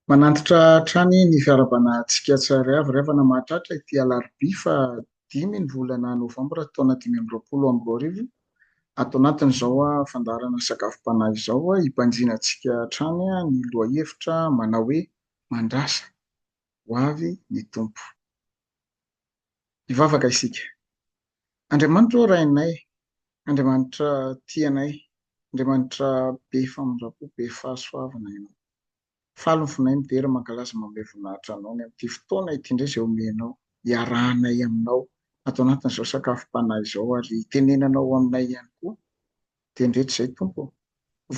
Manantitra hatrany ny fiarahabana antsika tsy ary avy raivana mahatratra ity alarobia faha dimy ny volana novambra taona dimy amby roapolo amby roa arivo ato anatin' izao fandaharana sakafom-panahy izao hibanjina antsika hatrany ny lohahevitra manao hoe mandrasa ho avy ny Tompo. Hivavaka isika. Andriamanitra ô Rainay, Andriamanitra tia anay, Andriamanitra be famindram-po, be fahasoavana Ianao. Faly ny fonay midera, mankalaza, manome voninahitra Anao ny amin'ity fotoana ity indray izay omenao hiarahanay Aminao ato anatin'izao sakafom-panahy izao ary hitenenanao aminay ihany koa. Tendretsy izay Tompo ô!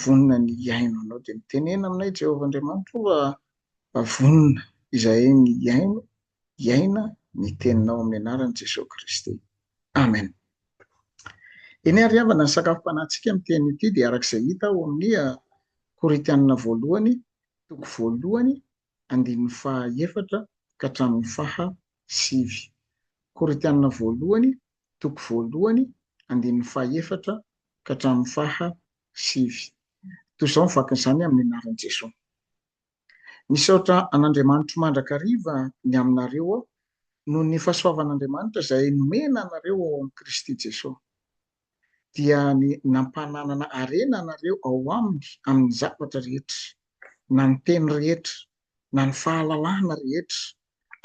Vonona ny hihaino Anao dia mitenena aminay Jehovah Andriamanitra o! Fa vonona izahay ny hihaino, hiaina, ny Teninao amin'ny anaran'i Jesoa Kristy. Amen. Eny àry havana, ny sakafom-panahintsika amin'ity anio ity dia araka izay hita ao amin'ny Korintianina voalohany, toko voalohany, andininy faha efatra ka hatramin'ny faha sivy. Korintianina voalohany, toko voalohany, andininy faha efatra ka hatramin'ny faha sivy. Toy izao ny vakin'izany amin'ny anaran'i Jesoa. Misaotra an'Andriamanitro mandrakariva ny aminareo aho noho ny fahasoavan'Andriamanitra izay nomena anareo ao amin'i Kristy Jesoa. Dia ny nampananana harena anareo ao Aminy amin'ny zavatra rehetra, na ny teny rehetra, na ny fahalalahana rehetra,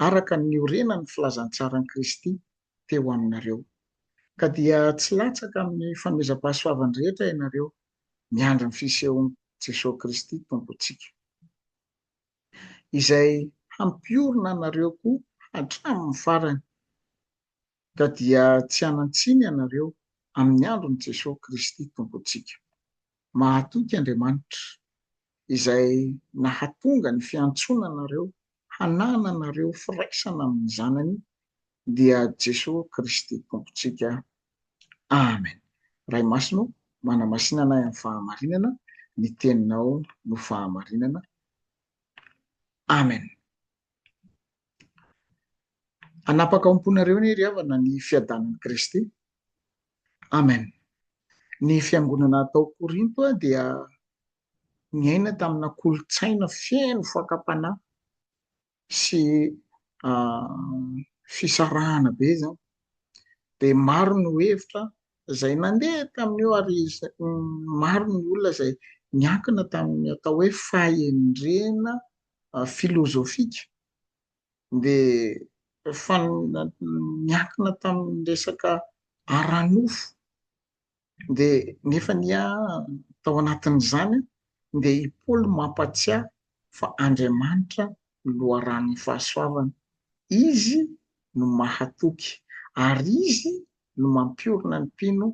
araka ny niorenan'ny filazantsaran'i Kristy teo aminareo. Ka dia tsy latsaka amin'ny famezam-pahasoavany rehetra ianareo, miandry ny fisehon'i Jesoa Kristy Tompontsika, Izay hampiorina anareo koa hatramin'ny farany, ka dia tsy hanan-tsiny ianareo amin'ny andron'i Jesoa Kristy Tompontsika. Mahatoky Andriamanitra. izay nahatonga ny fiantsoana anareo hanananareo firaisana amin'ny Zanany dia Jesoa Kristy Tompontsika. Amen. Ray Masina ô, manamasina anay amin'ny fahamarinana, ny Teninao no fahamarinana. Amen. Hanapaka ao am-ponareo anie ry havana ny fiadanan'i Kristy. Amen. Ny fiangonana tao Korinto dia niaina tamina kolontsaina feno fakam-panahy sy fisarahana be izany. Dia maro no hevitra izay nandeha tamin'io ary maro ny olona izay niankina tamin'ny atao hoe fahendrena filozofika dia miankina tamin'ny resaka ara-nofo dia nefa anie tao anatin'izany dia i Paoly mampatsiahy fa Andriamanitra no loharanon'ny fahasoavana, Izy no mahatoky ary Izy no mampiorina ny mpino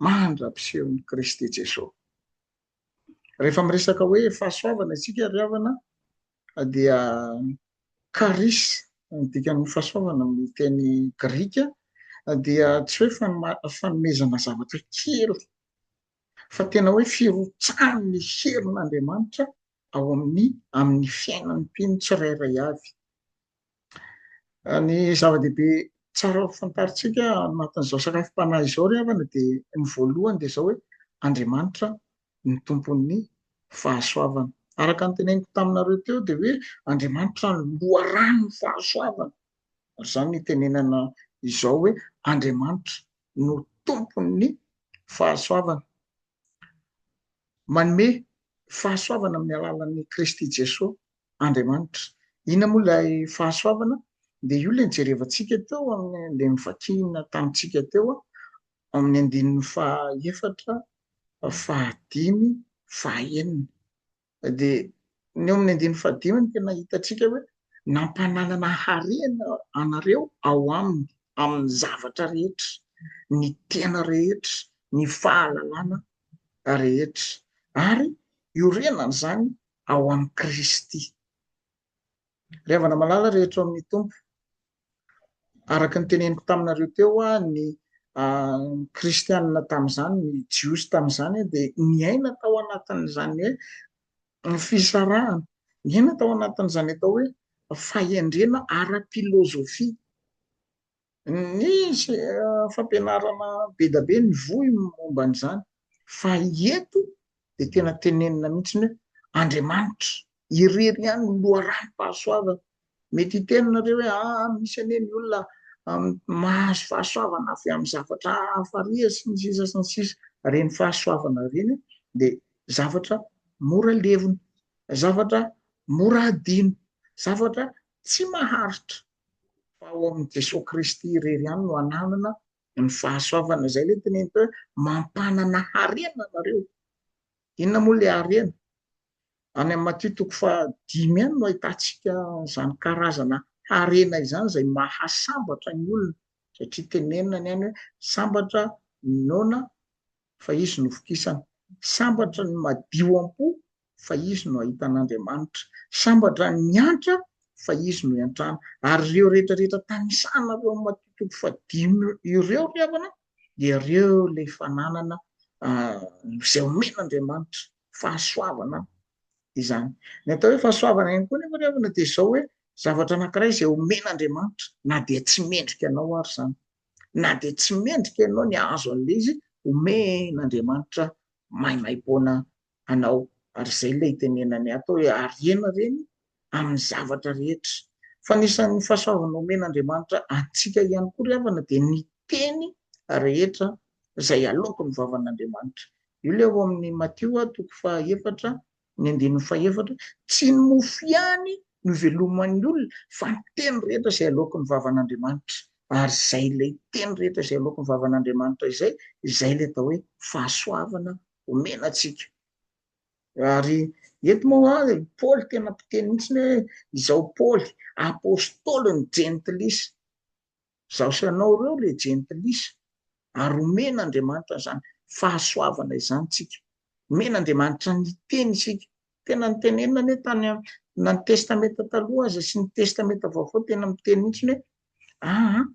mandra-pisehon'i Kristy Jesoa. Rehefa miresaka hoe fahasoavana isika ry havana dia karis ny dikan'ny fahasoavana amin'ny teny grika dia tsy hoe fanomezana zavatra kely fa tena hoe firotsahan'ny herin'Andriamanitra ao amin'ny amin'ny fiainan'ny mpino tsirairay avy. Ny zava-dehibe tsara ho fantarintsika anatin'izao sakafom-panahy izao ry havana dia ny voalohany dia izao hoe Andriamanitra ny tompon'ny fahasoavana. Araka ny teneniko taminareo teo dia hoe Andriamanitra ny loharanon'ny fahasoavana. Izany ny tenenana izao hoe Andriamanitra no tompon'ny fahasoavana. Manome fahasoavana amin'ny alalan'i Kristy Jesoa Andriamanitra. Inona moa ilay fahasoavana? Dia io ilay nijerevantsika teo amin'ilay novakina tamintsika teo amin'ny andininy fahaefatra, fahadimy, fahaenina. Dia ny eo amin'ny andininy fahadimy no tena hitantsika hoe nampananana harena anareo ao aminy amin'ny zavatra rehetra, ny tena rehetra, ny fahalalana rehetra, ary iorenan'izany ao amin'i Kristy. Ry havana malala rehetra ao amin'ny Tompo, araka ny teneniko taminareo teo, ny kristianina tamin'izany, ny jiosy tamin'izany dia niaina tao anatin'izany hoe ny fisarahana, niaina tao anatin'izany atao hoe fahendrena ara-pilozofia. ny fampianarana be da be ny vohy momba an'izany fa eto dia tena tenenina mihitsy ny hoe Andriamanitra irery ihany no loharanom-pahasoavana mety hiteny nareo hoe ah misy anie ny olona mahazo fahasoavana avy amin'ny zavatra hafa rie sy ny sisa sy ny sisa reny fahasoavana reny dia zavatra mora levona zavatra mora adino zavatra tsy maharitra Fa ao amin'i Jesoa Kristy irery ihany no ananana ny fahasoavana. Izay ilay teneniko hoe mampanana harena nareo. Inona moa ilay harena? Any amin'ny Matio toko fahadimy any no ahitantsika izany karazana harena izany izay mahasambatra ny olona satria tenenina ny any hoe sambatra ny noana fa izy no vokisana. Sambatra ny madio am-po fa izy no ahitan'Andriamanitra. Sambatra ny miantra fa izy no iantrana. Ary ireo rehetra rehetra tanisana ireo Matio toko fahadimy ireo ry havana dia ireo ilay fananana izay omen'Andriamanitra fahasoavana izany. Ny atao hoe fahasoavana ihany koa nefa ry havana dia izao hoe zavatra anankiray izay omen'Andriamanitra na dia tsy mendrika anao ary izany. Na dia tsy mendrika ianao ny hahazo an'ilay izy omen'Andriamanitra maimaim-poana anao ary izay ilay itenenany ato hoe harena reny amin'ny zavatra rehetra fa anisan'ny fahasoavana omen'Andriamanitra antsika ihany koa ry havana dia ny teny rehetra izay aloako ny vavan'Andriamanitra io ilay ao amin'ny Matio a toko fahaefatra ny andininy fahaefatra tsy ny mofo ihany no iveloman'ny olona fa ny teny rehetra izay aloako ny vavan'Andriamanitra ary izay ilay teny rehetra izay aloako ny vavan'Andriamanitra izay izay ilay atao hoe fahasoavana omena antsika. Ary eto moa ary Paoly tena mpiteny mihitsy hoe izao Paoly apôstôly ny jentilisa. Izaho sy ianao ireo le jentilisa. Ary omena Andriamanitra izany fahasoavana izany tsika. Omena Andriamanitra ny teny isika. Tena ny tenenina anie tany na ny testamenta taloha aza sy ny testamenta vaovao tena miteny mihitsy hoe aa ah,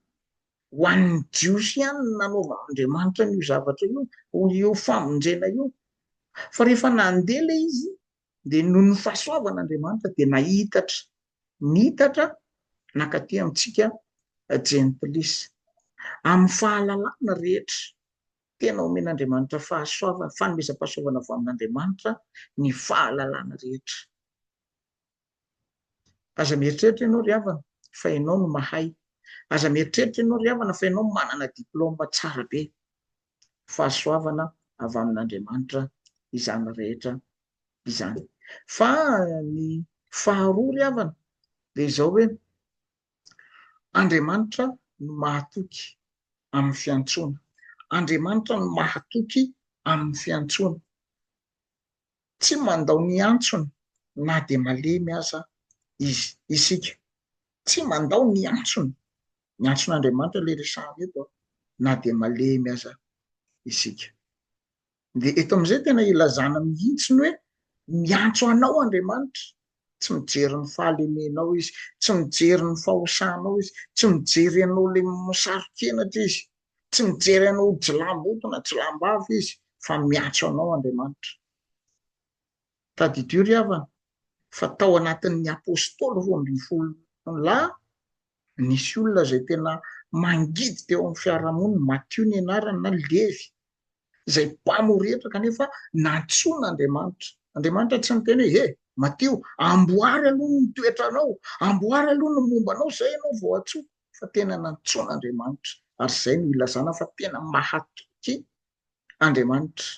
Ho an'ny Jiosy ihany no nanaovan'Andriamanitra an'io zavatra io, hoy io famonjena io. Fa rehefa nandeha ilay izy, dia noho ny fahasoavan'Andriamanitra, dia nahitatra, niitatra nankaty amintsika Gentilis. Amin'ny fahalalana rehetra, tena omen'Andriamanitra fahasoavana, fanomezam-pahasoavana avy amin'Andriamanitra ny fahalalana rehetra. Aza mieritreritra ianao ry havana fa ianao no mahay. Aza mieritreritra ianao ry havana fa ianao manana diplôma tsara be. Fahasoavana avy amin'Andriamanitra izany rehetra izany. Fa ny faharoa ry havana dia izao hoe, Andriamanitra no mahatoky amin'ny fiantsoana. Andriamanitra no mahatoky amin'ny fiantsoana. Tsy mandao ny antsony na dia malemy aza izy, isika. Tsy mandao ny antsony, ny antson'Andriamanitra ilay resahana eto an, na dia malemy aza isika. Dia eto amin'izay tena ilazana mihitsy ny hoe miantso anao Andriamanitra tsy mijery ny fahalemenao izy, tsy mijery ny fahosanao izy, tsy mijery anao ilay misaro-kenatra izy, tsy mijery anao ho jilamboto na jilambavy izy fa miantso anao Andriamanitra. Tadidio ry havana fa tao anatin'ny apostoly roa ambin'ny folo lahy nisy olona izay tena mangidy teo amin'ny fiarahamonina, Matio ny anarany na Levy, izay mpamo rehetra kanefa nantsoin' Andriamanitra. Andriamanitra tsy niteny hoe he, matio, amboary aloha ny toetranao, amboary aloha ny momba anao izay ianao vao atsoiko, fa tena nantsoin' Andriamanitra. Ary izay no ilazana fa tena mahatoky Andriamanitra.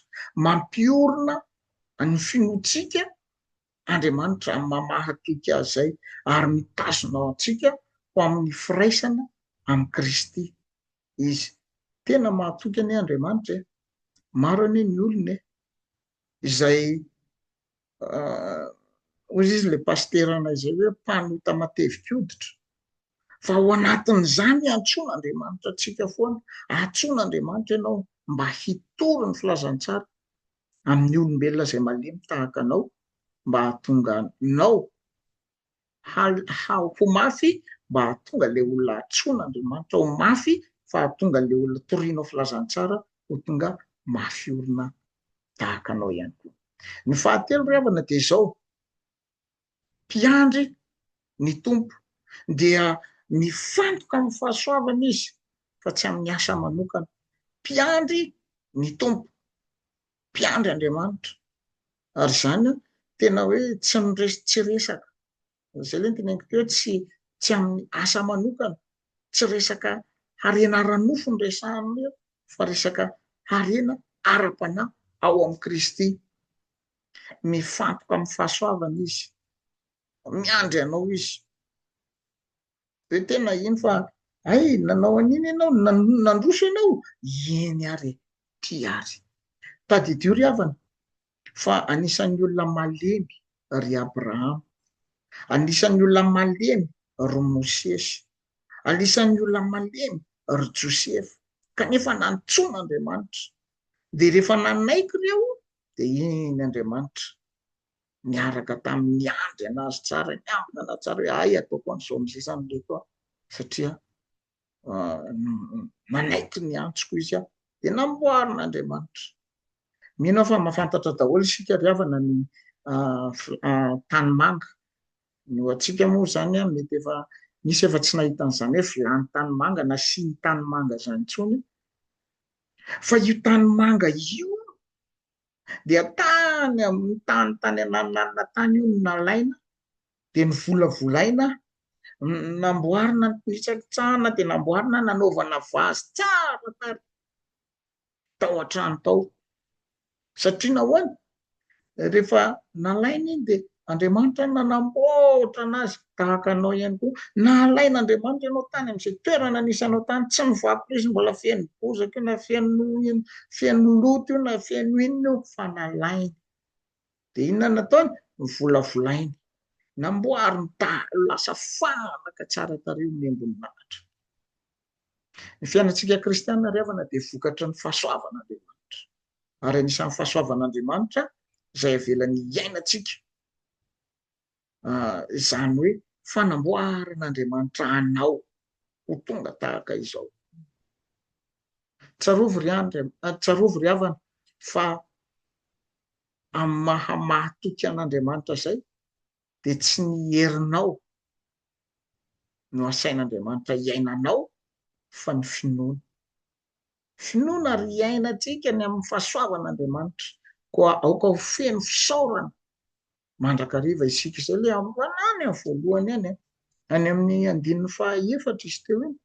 Mampiorina ny finoantsika Andriamanitra amin'ny maha mahatoky azy izay, ary mitazona antsika ho amin'ny firaisana amin'i Kristy. izy. Tena mahatoky anie Andriamanitra e! Maro anie ny olona e! Izay hoy izy ilay pasiteranay izay hoe mpanota matevikoditra fa ao anatin'izany antsoina Andriamanitra antsika foana, antsoina Andriamanitra ianao mba hitory ny filazantsara amin'ny olombelona izay malemy tahaka anao mba hahatonga anao ho mafy mba hahatonga ilay olona antsoin'Andriamanitra ho mafy fa hahatonga ilay olona torianao filazantsara ho tonga mafy orina tahaka anao ihany koa. Ny fahatelo ry havana dia izao, mpiandry ny Tompo dia mifantoka amin'ny fahasoavana izy fa tsy amin'ny asa manokana. Mpiandry ny Tompo. mpiandry Andriamanitra ary izany tena hoe tsy miresy tsy resaka izay le nteneniko teo tsy tsy amin'ny asa manokana tsy resaka harena ara-nofo ny resahana eo fa resaka harena ara-panahy ao amin'i Kristy mifantoka amin'ny fahasoavana izy miandry anao izy dia tena naheno fa hay nanao an'iny ianao, nandroso ianao, eny ary e, ty ary. Tadidio ry havana fa anisan'ny olona malemy ry Abrahama, anisan'ny olona malemy ry Mosesy, anisan'ny olona malemy ry Josefa, kanefa nantsoina Andriamanitra, dia rehefa nanaiky ireo dia eny Andriamanitra. niaraka tamin'ny niandry anazy tsara ny ambiny anazy tsara hoe hay ataoko an'izao amin'izay zany ireto aho satria manaiky ny antsoko izy aho de namboarin'andriamanitra mino aho fa mahafantatra daholo isika ry havana ny tany manga ny ho antsika moa zany a mety efa misy efa tsy nahita an'izany hoe vilany tany manga na siny tany manga zany intsony fa io tany manga io dia tany amin'ny tany tany anananana tany io no nalaina dia novolavolaina namboarina nitsakitsahana dia namboarina nanaovana vazy tsara tary tao an-trano tao satria nahoana rehefa nalaina iny dia Andriamanitra no nanamboatra anazy, tahaka anao ihany koa. Nahalain'Andriamanitra ianao tany amin'izay toerana nisy anao tany. Tsy nivaky leo izy mbola feno bozaka io na feno ino, feno loto io na feno inona io, fa nalainy. Dia inona nataony? Novolavolainy. Namboariny dahalo lasa fanaka tsara tarehy ny embon'Anitra. Ny fiainantsika kristiana ry havana dia vokatry ny fahasoavan'Andriamanitra. ary anisan'ny fahasoavan'Andriamanitra izay avelany hiainantsika, izany hoe fanamboaran'Andriamanitra anao ho tonga tahaka izao. Tsarovy ry andry, tsarovy ry havana fa amin'ny maha mahatoky an'Andriamanitra izay dia tsy ny herinao no asain'Andriamanitra hiainanao fa ny finoana. Finoana ary iainantsika ny amin'ny fahasoavan'Andriamanitra. Koa aoka ho feno fisaorana mandrakariva isika. Izay ilay androany voalohany any an. Any amin'ny andininy fahaefatra izy teo iny.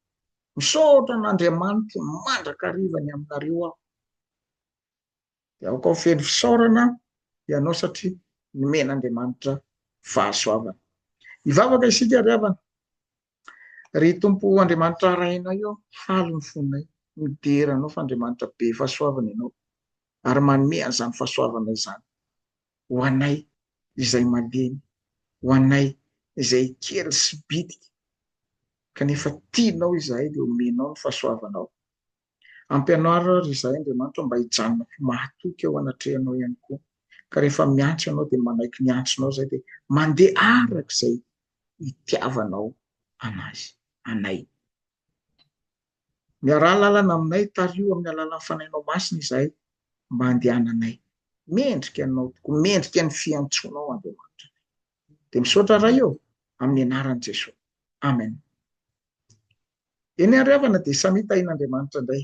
Misaotra an'Andriamanitra mandrakariva ny aminareo aho. Dia aoka ho feno fisaorana ianao satria nomen'Andriamanitra fahasoavana. Hivavaka isika ry havana. Ry Tompo Andriamanitra Rainay ô, faly ny fonay midera Anao fa Andriamanitra be fahasoavana Ianao ary manome an'izany fahasoavana izany ho anay izay malemy, ho anay izay kely sy bitika kanefa tianao izahay dia omenao ny fahasoavanao. Ampianaro àry izahay, Andriamanitra, mba hijanona ho mahatoky eo anatrehanao ihany koa, ka rehefa miantso ianao, dia manaiky ny antsonao izahay, dia mandeha araka izay itiavanao anazy, anay. Miaraha lalana aminay, tariho amin'ny alalan'ny Fanahinao Masina izahay, mba handehananay mendrika Anao tokoa, mendrika ny fiantsoanao, Andriamanitra. dia misaotra ray ô amin'ny anaran'i Jesoa amen eny ary havana dia samia tahin'Andriamanitra indray